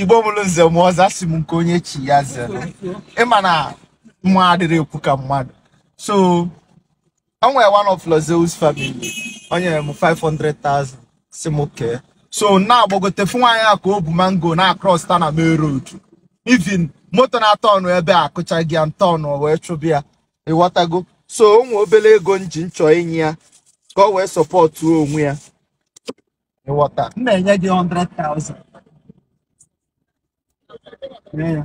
igbo bụrụ nze m ọzọ asị m nke onye chi ya zere ịma na mụ adịrị ekwu ka mmadụ so o nwere one of Lord Zeus family o nyere m 500,000 sị m kee so na-agbagote fụ nwaanyị a ka o bu mango na-across ta na main road even moto na-atọ ọnụ ebe a akụchaghị ya ntọ ọnụ wee chụba ya ịghọtago so o nwee obere ego m ji m chọ inye ya ka o wee sọpọtụ onwe ya ịghọta m na-enye gị 100,000 Nye ya.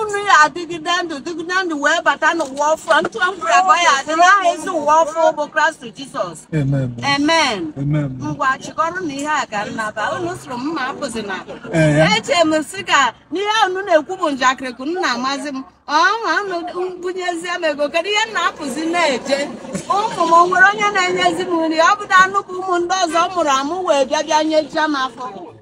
unu ya adịgide ndụ dịgide ndụ wee bata n'ụwa ọfụ ntụ mkpụrụ abụọ ya adị n'aha ezi ụwa ọfụ bụ kraịst jizọs Amen. amen Amen. ngwa chịkọrọ na ihe a ka m naba unu sịrị m mụ apụzina Ee, ya. eche m sị ka na ihe unu na-ekwu bụ njakịrị ka unu na-amazi m ọha unu bunyezie m ego kedu ihe m na-apụzi na-eje ụmụ m o nwere onye na-enyezi m nri ọ bụdị unu bụ ụmụ ndị ọzọ mụrụ amụ wee bịa bịa nyejia m afọ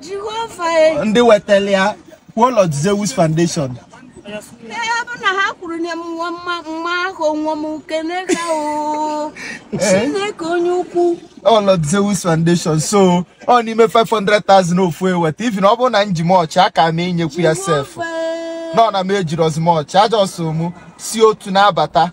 Jehova e. ndị wetara ya kwuo Lord Zeus Foundation Ee, ọ bụ na ha kwuru na nwa mma mma ahụ nwa m kene ha o Chineke onye ukwu ọ Lord Zeus Foundation so ọ n'ime 500,000 ofu eweta even ọ bụrụ na m ji much aka m enyekwu ya sef Jehova e. nọ na m ejirọzi much just mụ si otu na-abata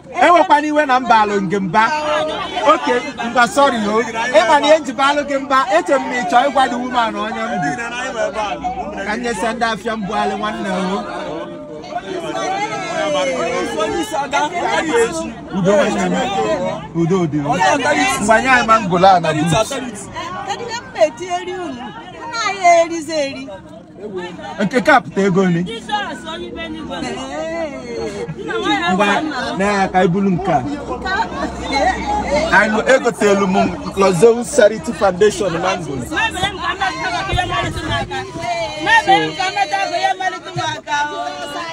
ewekwana iwe na m baalụ gị mba oke mba sorry o ịma na ihe m ji baalụ gị mba eche m na ị chọ ịgwa the woman onye m bụ ka m nyesa ndị afịa mbụ alị nwanne o udo nwanne m udo dị o mgbe anyị anyị mangolo a na bụ Kedu ihe m na-etinyere unu? Unu anyị erizi eri. nke ka pụta ego nri ngwa na ya ka i bulu nke a anyị egotelu m Lord Zeus Charity Foundation mango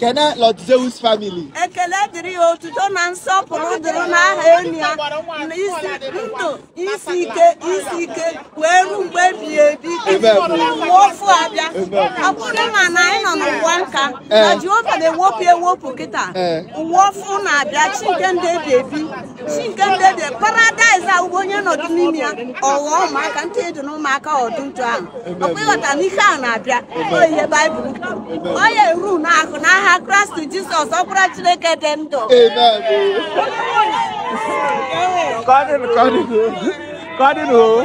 kene Lord Zeus family ekele dịrị ya otuto na nsọpụrụ dịrị n'aha enyi ya na isi ndụ isi ike isi ike wee ruo mgbe ebighị ebi ụwa ọfụ abịa ọ bụrụ ma na anyị nọ n'ụwa nka na Jehova na-ewepụ ewepụ kịta ụwa ọfụ na-abịa chi nke ndụ ebi ebi chi nke ndị dị paradaịs a ugbo onye nọdụ n'ime ya ọ ghọọ ụmụaka ntị dị n'ụmụaka ọdụ ntụ ahụ ọkwa ịghọta na ihe a na-abịa ọ ihe baịbụl kwuru ọ ya eru n'ahụ n'aha kraịst jizọs ọkpara chineke dị ndụ Kadın, kadın. Kadın o.